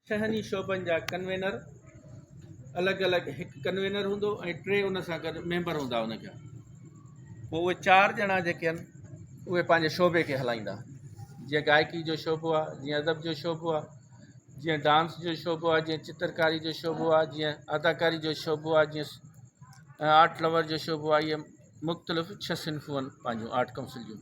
ڇهن ئي شعبن جا ڪنوينر الڳ الڳ هڪ ڪنوينر هوندو ۽ ٽي ان سان گڏ ميمبر هوندا ان جا پوء اهي چار ڄڻا جيڪي آهن اهي پنهنجي شعبي کي هلائيندا جيئن گائڪي جو شعبو آهي جيئن ادب جو شعبو آهي جيئن ڊانس جو شعبو آهي جيئن چترڪاري جو شعبو آهي جيئن اداڪاري جو شعبو آهي جيئن آرٽ لور جو شعبو آهي مختلف ڇهه صنفون پنهنجون آرٽ ڪائونسل جون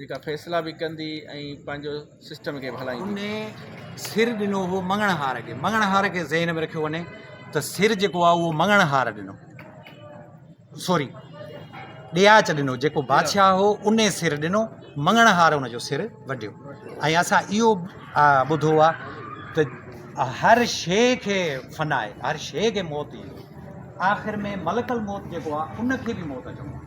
جيڪا فيصلا به ڪندي ۽ پنهنجو سسٽم کي به هلائيندي. هن سر ڏنو هو مڱڻ هار کي. مڱڻ هار کي ذهن ۾ رکيو وڃي ته سر جيڪو آهي اهو مڱڻ هار ڏنو. سوري ڏياچ ڏنو جيڪو بادشاهه هو ان سر ڏنو مڱڻ هار ان جو سر وڍيو ۽ اسان اهو ٻڌو آهي ته هر شيء کي فنا آهي هر شيء کي موت ايندو آخر ۾ ملڪ الموت جيڪو آهي ان کي به موت اچڻو آهي.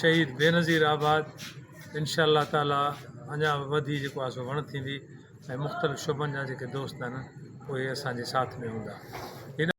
شهيد بينظير آباد انشاء الله تعالٰي اڃا به وڌي جيڪو آهي سو وڻ ٿيندي ۽ مختلف شعبن جا جيڪي دوست آهن اهي اسان جي ساٿ ۾ هوندا